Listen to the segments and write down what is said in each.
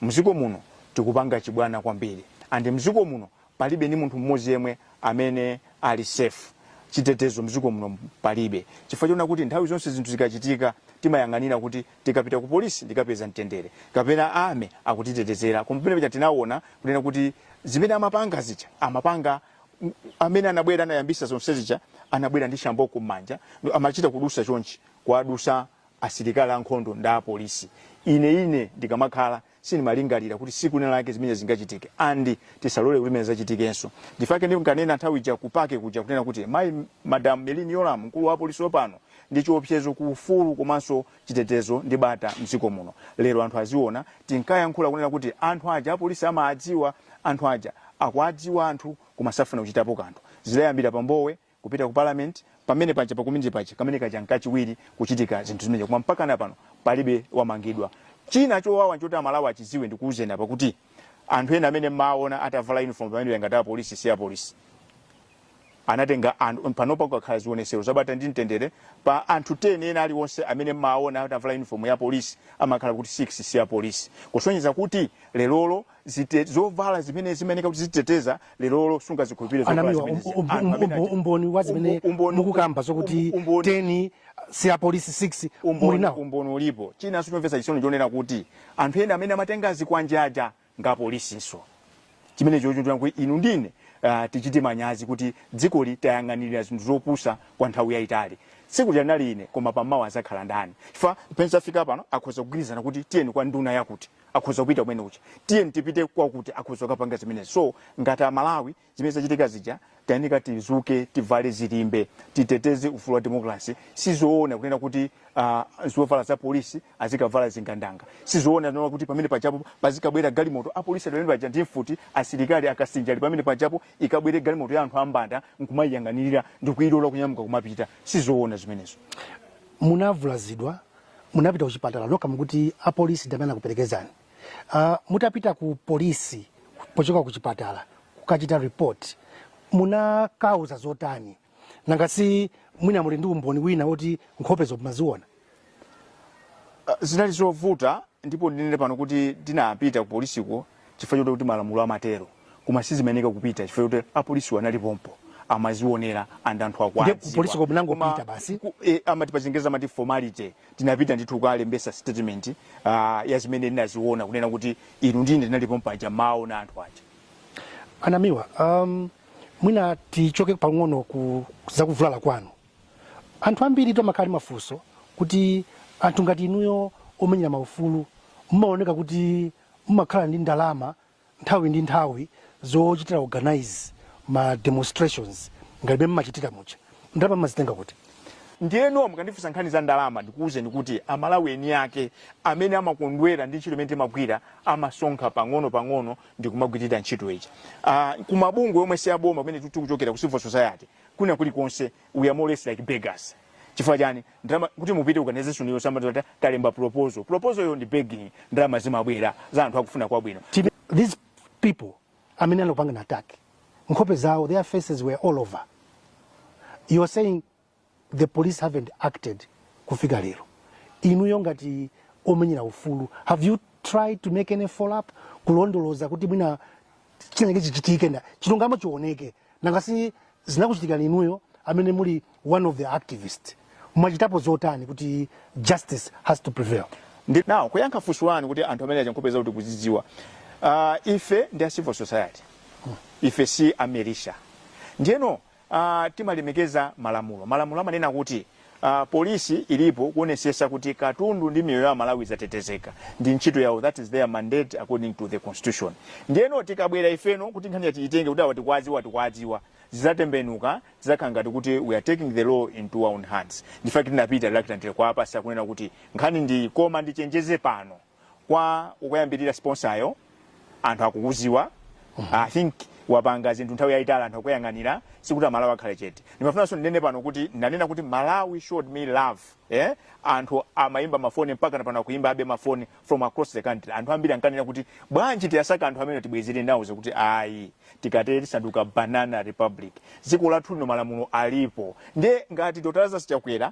Mziko muno tikupanga chibwana kwambiri and mziko muno palibe ndi munthu mmodzi yemwe amene ali safe. Chitetezo mziko muno palibe chifukwa chonena kuti nthawi zonse zinthu zikachitika timayang'anira kuti tikapita ku police ndikapeza mtendere kapena army akutitetezera koma pamene paja tinawona kunena kuti zimene amapanga zija amapanga amene anabwera anayambisa zonse zija anabwera ndi shamboko mmanja amachita kudusa chonchi kuwadusa asilikali ankhondo ndi apolisi. Ine, ine ndikamakhala, sindimalingalira kuti siku lina lake zimenezi zingachitike, andi tisalole kuti zimenezi zachitikenso. Ndi chifukwa chake ndinkanena nthawi ija ku paki kuja, kunena kuti, Mayi, Madam Merlyne Yolamu, mkulu wa apolisi wopano, ndi chiopsezo ku ufulu komanso chitetezo ndi bata mdziko muno. Lero anthu aziona, tinkayankhula kunena kuti, anthu aja apolisi amaadziwa, anthu aja akuadziwa anthu koma safuna kuchitapo kanthu. Zidayambira pa Mbowe, kupita ku parliament pamene paja pa community paja kamene kaja nkachiwiri kuchitika zinthu zimenezo koma mpakana pano palibe wamangidwa china chowawa nchoti amalawi achiziwe ndikuuzeni apa kuti anthu ena amene mmaona atavala uniform pamene pangati apolisi si apolisi anatenga anthu panopa kukakhala zionesero zabata ndi mtendere pa anthu 10 ena aliwonse amene mmaona atavala uniform ya polisi amakhala kuti 6 si apolisi kusonyeza kuti lerolo zite zovala zimene zimayenera kuti ziteteza lerolo sungazikhulupirire zovala anamiwa zimenezi um- um- Anthu amene um- achita- umboni wa zimene Umbo- umboni- mukukamba zokuti um- umboni- 10 si apolisi 6 muli umboni nawo umboni ulipo china nchomvetsa chisoni chonena kuti anthu ena amene amatenga zikwanje aja ngapolisinso chimene chochitira kuti inu ndine uh, tichite manyazi kuti dzikoli tayang'anirira zinthu zopusa kwa nthawi yayitali tsiku linali ine koma pamawa azakhala ndani chifukwa pamene zafika pano akhoza kugwirizana kuti tiyeni kwa nduna yakuti akhoza kupita kumene uja tiyeni tipite kwakuti akhoza kukapanga zimenezi so ngati amalawi zimene zachitika zija tayenika tizuke tivale zilimbe titeteze ufulu wa demokrasi sizoona kunena kuti uh, zovala za polisi azikavala zingandanga sizoona kunena kuti pamene pajapo pazikabwera galimoto apolisi ali pamene paja ndi mfuti asilikali akasinja ali pamene pajapo ikabwere galimoto ya anthu ambanda nkumayiyang'anirira ndikuyilola kunyamuka kumapita sizoona zimenezo munavulazidwa munapita kuchipatala nokha mukuti apolisi ndi amene anakuperekezani uh, mutapita ku polisi pochoka ku chipatala kukachita report munakauza zotani nanga si mwina muli ndi umboni wina woti nkhopezo mumaziona uh, zinali zovuta ndipo ndinene pano kuti ndinapita ku polisiko chifukwa choti kuti malamulo amatero koma sizimayenera kupita chifukwa choti apolisiwo anali pompo amazionera and anthu aja akuwadziwa kupolisiko munangopita Koma basi? ku- eh, amati pachingereza amati formality tinapita ndithu kukalembesa statement uh, ya zimene ndinaziona kunena kuti inu ndine ndinali pompo aja mawaona anthu aja a Namiwa um, mwina tichoke pang'ono ku zakuvulala kwanu anthu ambiri timakhala mafunso kuti anthu ngati inuyo omenyera maufulu mumaoneka kuti mumakhala ndi ndalama nthawi ndi nthawi zochitira organize ma demonstrations ngati mmene mmachitira muja ndalama mmazitenga kuti ndiyeno mukandifunsa nkhani za ndalama ndikuwuzeni kuti amalawi eni ake amene amakondwera ndi ntchito imene timagwira amasonkha pang'ono pang'ono ndikumagwirira ntchito ija uh, kumabungwe omwe si aboma kumene tikuchokera ku civil society kuna kulikonse we are more or less like beggars chifukwa chani ndalama kuti mupite organization iyo samati kuti talemba proposal proposalyo ndi begging ndalama zimabwera za anthu akufuna kwabwino Tine- these people amene anakupanga na attack nkhope zawo their faces were all over you are saying the police haven't acted kufika lero inuyo ngati omenyera ufulu have you tried to make any follow up kulondoloza kuti mwina chinachake chichitike and chilungamo chioneke nanga si zinakuchitikani inuyo amene muli one of the activist mwachitapo zotani kuti justice has to prevail now kuyankha funso lanu kuti anthu amene aja nkhope zikuti tikuzidziwa uh, ife ndi a civil society ife si a militia ndiyeno Uh, timalemekeza malamulo. Malamulo amanena kuti uh, polisi ilipo kuonesesa kuti katundu ndi miyoyo ya aMalawi zatetezeka, ndi ntchito yawo, that is their mandate according to the constitution. Ndiyeno tikabwera ifeno kuti nkhaniyi tiitenge kuti awa tikwaziwa tikwaziwa zizatembenuka zizakhala ngati kuti we are taking the law into our own hands. Nchifukwa chake tinapita reluctantly kwa apolisi kunena kuti nkhani ndi koma ndichenjeze pano kwa akuyambirira sponsayo anthu akukuziwa i think wapanga zinthu nthawi yayitali anthu akuyang'anira sikuti amalawi akhale chete ndimafunanso ndinene pano kuti ndanena kuti malawi showed me love eh? anthu amayimba mafoni mpaka na pano akuyimbabe mafoni from across the country anthu ambiri ankanena kuti bwanji tiwasake anthu amene tibwezere ndinawauza kuti ayi tikatero tisanduka banana republic dziko lathu lino malamulo alipo ndiye ngati dr lazarus chakwera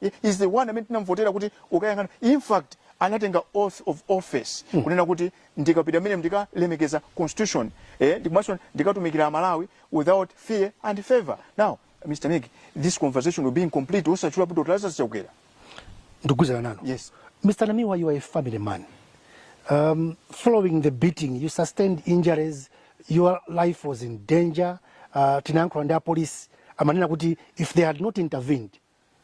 He is the one amene tinamvotera kuti akayang'ane in fact anatenga oath of office hmm. kunena kuti ndikapita m'menemo ndikalemekeza constitution eh, komanso ndikatumikira amalawi without fear and favor now mr mig this conversation will be incomplete osatchula dr lazarus chakwera ndikugwizana nalo yes mr namiwa you are a family man um, following the beating you sustained injuries your life was in danger uh, tinayankhula ndi apolisi amanena kuti if they had not intervened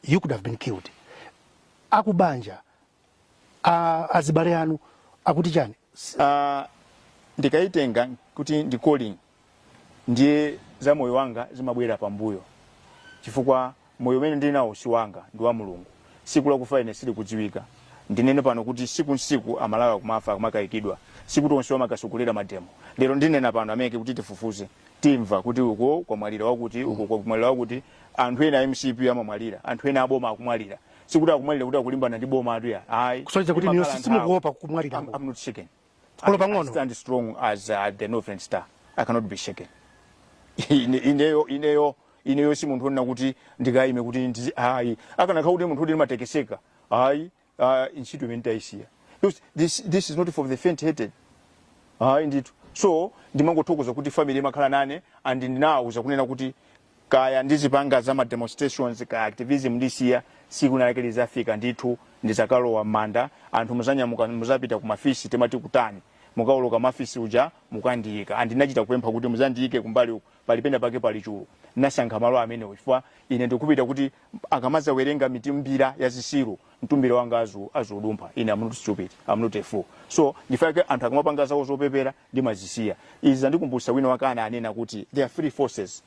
you could have been killed akubanja azibale anu akuti chani uh, ndikaitenga kuti ndi calling ndiye za moyo wanga zimabwera pambuyo chifukwa moyo umene ndili nawo si wanga ndi wa mulungu siku lakufa ine sili kudziwika ndinene pano kuti tsiku ntsiku amalawi akumafa akumakayikidwa sikuti onse amakatsogolera mademo lero ndinena pano amvekere kuti tifufuze timva kuti uko kwamwalira wakuti uko kwamwalira wakuti anthu ena a mcp amamwalira anthu ena aboma akumwalira sikuti akumwalira kuti akulimbana ndi boma athu ayi kusonyeza kuti inuyo simukuopa kumwalira I'm- I'm not shaken. Olo pang'ono. I stand strong as uh, the northern star i cannot be shaken Ine- ineyo ineyo ineyo si munthu onena kuti ndikayime kuti ndizi ayi akanakhala kuti munthu kuti ndimatekeseka ayi ah, ntchito imene ndayisiya Because this, this is not for the faint hearted ayi ndithu so ndimangothokoza kuti family imakhala nane and ndinawuza kunena kuti kaya ndizipanga za ma demonstrations kaya activism ndisiya siku linalake lizafika ndithu ndizakalowa m'manda anthu muzanyamuka muzapita ku mafisi timati kutani mukawoloka mafisi muja mukandiyika and ndinachita kupempha kuti muzandiyike kumbali uku pali pena pake pali chulu nasankha malo amenewo chifukwa ine ndikufuna kuti akamazawerenga mitumbira ya zisiru mtumbira wanga azu aziudumpha ine I'm not stupid I'm not a fool so ndifake anthu akamapanga zawo zopepera ndimazisiya izi zandikumbutsa wina wake anena kuti there are three forces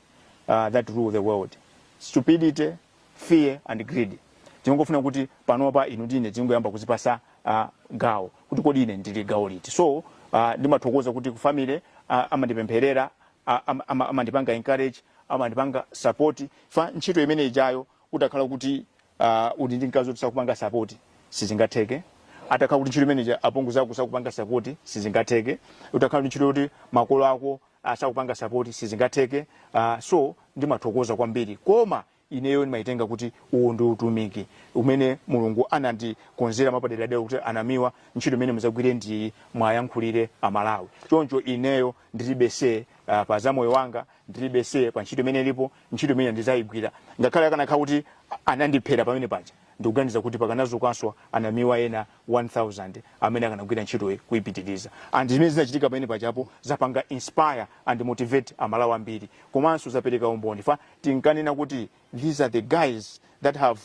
uh, that rule the world stupidity fear and greed ndingofuna kuti panopa inu ndine tingoyamba kuzipasa uh, gawo kuti kodi ine ndili gawo liti so uh, ndimathokoza kuti ku family uh, amandipempherera a, am, am, amandipanga encourage amandipanga support fa ntchito imene ijayo utakhala kuti uh, uli ndi mkazi woti sakupanga support sizingatheke atakhala kuti ntchito imene ija apongo zako sakupanga support sizingatheke utakhala kuti ntchito yoti makolo ako sakupanga support sizingatheke uh, so ndimathokoza kwambiri koma ineyo ndimaitenga kuti uwu ndi utumiki umene mulungu anandikonzera mwapaderadera kuti a namiwa ntchito imene muzagwire ndi iyi mwayankhulire amalawi choncho ineyo ndilibe see uh, pa za moyo wanga ndilibe see pa ntchito imene ilipo ntchito imene ndizayigwira ngakhale akanakhala kuti anandiphera pamene paja Ndikuganiza kuti pakanadzukanso a Namiwa ena 1000 amene akanagwira ntchitoyi kuipitiliza and zimene zinachitika pamene pajapo zapanga inspire and motivate a Malawi ambiri komanso zapereka umboni fa tinkanena kuti these are the guys that have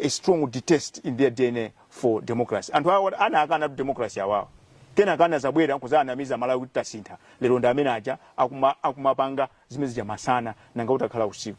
a strong detest in their dna for democracy. Anthu awa anayikanatu democracy awawa kenaka anazabwera nkuzawanamiza a Malawi kuti tasintha lero ndi amene aja akuma akumapanga zimene zija masana nanga utakhala usiku.